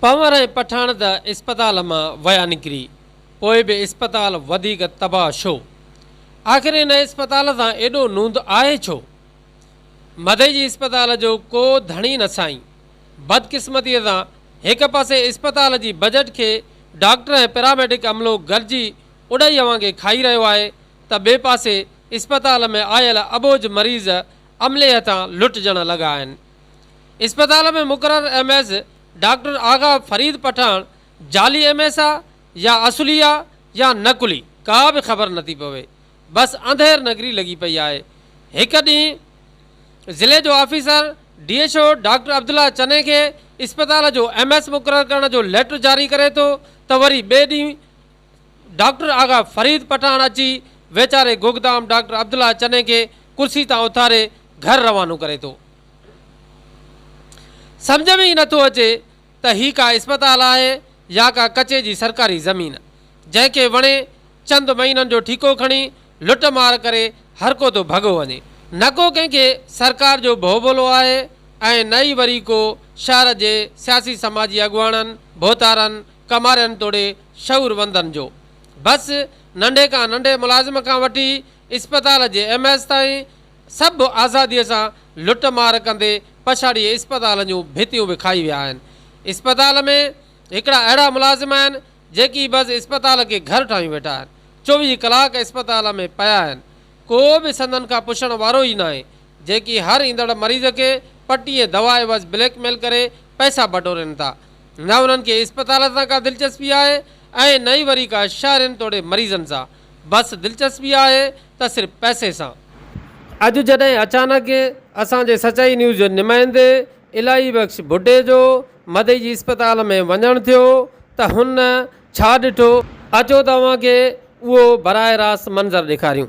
پنور ۽ پٺاڻ ته اسپتال مان ويا نڪري پوء به اسپتال وڌيڪ تباهه ڇو؟ آخر ان اسپتال سان ايڏو نوند آهي ڇو؟ مدئجي اسپتال جو ڪو ڌڻي نه سائين. بدقسمتيء سان هڪ پاسي اسپتال جي بجٽ کي ڊاڪٽر ۽ پيراميڊڪ عملو گرجي اڏائي اوهان کي کائي رهيو آهي ته ٻئي پاسي اسپتال ۾ آيل اٻوجهه مريض عملي هٿان لٽجڻ لڳا آهن. اسپتال ۾ مقرر M S doctor Agha Farid Pathan جعلي ايم ايس آ يا اصلي آ يا نقلي ڪا به خبر نٿي پوي بس انڌير نگري لڳي پئي آهي هڪ ڏينهن ضلعي جو officer D H O doctor Abdullah Chani کي اسپتال جو ايم ايس مقرر ڪرڻ جو ليٽر جاري ڪري ٿو ته وري ٻئي ڏينهن ڊاڪٽر آغا فريد پٺاڻ اچي ويچاري گوگدام ڊاڪٽر عبدالله چني کي ڪرسي تان اٿاري گهر روانو ڪري ٿو. سمجهه ۾ ئي نه ٿو اچي ته هي ڪا اسپتال آهي يا ڪا ڪچي جي سرڪاري زمين، جنهن کي وڻي چند مهينن جو ٺيڪو کڻي لٽ مار ڪري هرڪو ٿو ڀڳو وڃي. نه ڪو ڪنهن کي سرڪار جو ڀو ڀولو آهي ۽ نه ئي وري ڪو شهر جي سياسي سماجي اڳواڻن، ڀوتارن، ڪمارين توڙي شعوروندن جو بس ننڍي کان ننڍي ملازم کان وٺي اسپتال جي ايم ايس تائين سڀ آزادي سان لٽ مار ڪندي پڇاڙيء اسپتال جون ڀتيون به کائي ويا آهن اسپتال ۾ هڪڙا اهڙا ملازم آهن جيڪي بس اسپتال کي گهر ٺاهيون ويٺا آهن چوويهه ڪلاڪ اسپتال ۾ پيا آهن ڪو به سندن کان پڇڻ وارو ئي ناهي جيڪي هر ايندڙ مريض کي پٽي ۽ دوا عيوض بليڪ ميل ڪري پئسا بٽورين ٿا نه انهن کي اسپتالن سان ڪا دلچسپي آهي ۽ نه ئي وري ڪا شهرين توڙي مريضن سان، بس دلچسپي آهي ته صرف پئسي سان. اڄ جڏهن اچانڪ اسان جي سچائي نيوز جي نمائندي الاهي بخش ڀٽي جو مدئي جي اسپتال ۾ وڃڻ ٿيو ته هن ڇا ڏٺو اچو ته اوهان کي اهو براه راست منظر ڏيکاريون.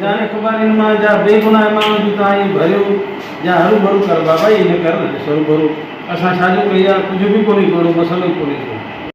ڄاڻي سڀاني ان مان جا بي گناهه ماڻهو جون تان اهي ڀريو جا هرو ڀرو ڪر بابا اهي نه ڪر نه ڏس هرو ڀرو اسان ڇا جو ڪئي آ ڪجهه به ڪونهي ڪو اهڙو مسئلو ئي ڪونهي ڪو.